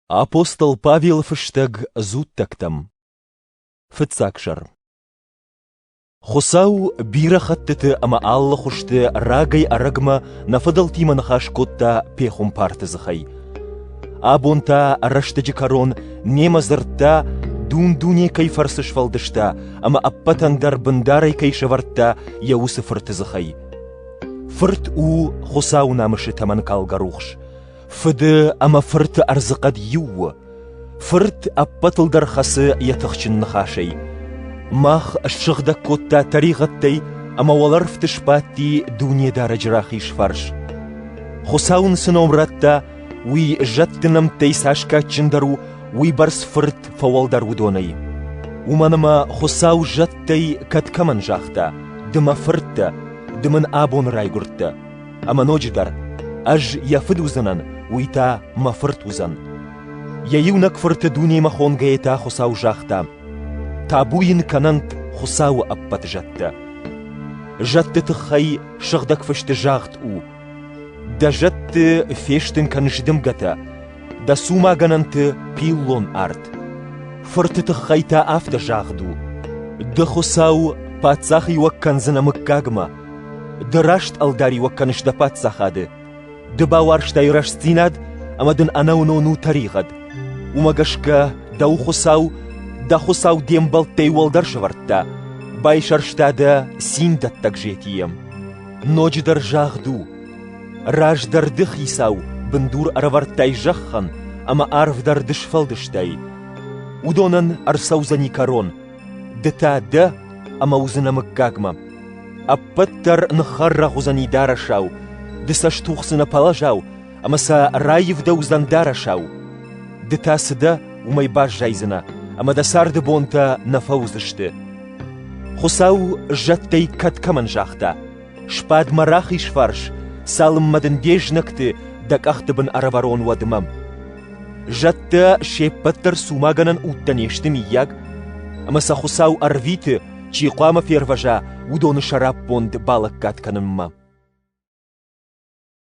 Апостол Павел фыстӕг дзуттӕгтӕм Фыццаг сӕр Хуыцау бирӕ хӕттыты ӕмӕ алы хуызты рагӕй-ӕрӕгмӕ нӕ фыдӕлтимӕ ныхас кодта пехуымпарты дзыхӕй. Абон та рӕстӕджы кӕрон немӕ дзырдта, дун-дуне кӕй фӕрцы сфӕлдыста ӕмӕ ӕппӕтӕн дӕр бындарӕй кӕй сӕвӕрдта йӕ уыцы фырты дзыхӕй. Фырт у Хуыцауы намысы тӕмӕнкалгӕ рухс, Фыды ӕмӕ фырты ӕрдзыхъӕд иу у. Фырт ӕппӕтыл дӕр хӕцы йӕ тыхджын ныхасӕй. Мах ссыгъдӕг кодта тӕригъӕдтӕй ӕмӕ уӕлӕрвты сбадти Дунедарӕджы рахиз фарс. Хуыцау ын цы ном радта, уый зӕдты нӕмттӕй цас кадджындӕр у, уыйбӕрц фырт фӕуӕлдӕр уыдонӕй. Уымӕн ӕмӕ Хуыцау зӕдтӕй кӕд кӕмӕн загъта: «Ды мӕ фырттӕ, ды мын абоны райгуырдтӕ», Ӕмӕ ноджыдӕр, ӕз йӕ фыд уыдзынӕн, уый та мӕ фырт уыдзӕн. Йӕ иунӕг фырты дунемӕ хонгӕйӕ та Хуыцау загъта: «Табу йын кӕнӕнт Хуыцауы ӕппӕт зӕдтӕ!» Зӕдты тыххӕй Сыгъдӕг Фысты загъд у: «Дӕ зӕдты фестын кӕн зыдымгӕтӕ, дӕ цумагӕнӕнты пиллон арт». Фырты тыххӕй та афтӕ загъд у: «Ды Хуыцау паддзахиуӕг кӕндзынӕ мыггагмӕ, Ды раст ӕлдариуӕг кӕныс дӕ паддзахады. Ды бауарзтай рӕстдзинад ӕмӕ дын ӕнӕуынон у тӕригъӕд. Уымӕ гӕсгӕ дӕу Хуыцау, дӕ Хуыцау де мбӕлттӕй уӕлдӕр сӕвӕрдта, байсӕрста дӕ цин дӕттӕг зетийӕм. Ноджыдӕр загъд у, раздӕр ды хицау бындур ӕрӕвӕрдтай зӕххӕн ӕмӕ арв дӕр ды сфӕлдыстай. Уыдонӕн ӕрцӕудзӕни кӕрон, Ды та дӕ ӕмӕ уыдзынӕ мыггагмӕ. Ӕппӕт дӕр ныххӕррӕгъ уыдзӕни дарӕсау, ды сӕ стухдзынӕ пӕлӕзау ӕмӕ сӕ раивдӕудзӕн дарӕсау. Ды та цы дӕ, уымӕй баззайдзынӕ, ӕмӕ дӕ царды бонтӕ нӕ фӕуыдзысты. Хуыцау зӕдтӕй кад кӕмӕн загъта: «Сбад-ма рахиз фарс, цалынмӕ дын де знӕгты дӕ къӕхты бын ӕрӕвӕрон уӕдмӕ». Зӕдтӕ се ппӕт дӕр цумагӕнӕн удтӕ не сты, миййаг? Ӕмӕ сӕ Хуыцау ӕрвиты, чи хъуамӕ фервӕза, уыдоны сӕраппонд балӕггад кӕнынмӕ.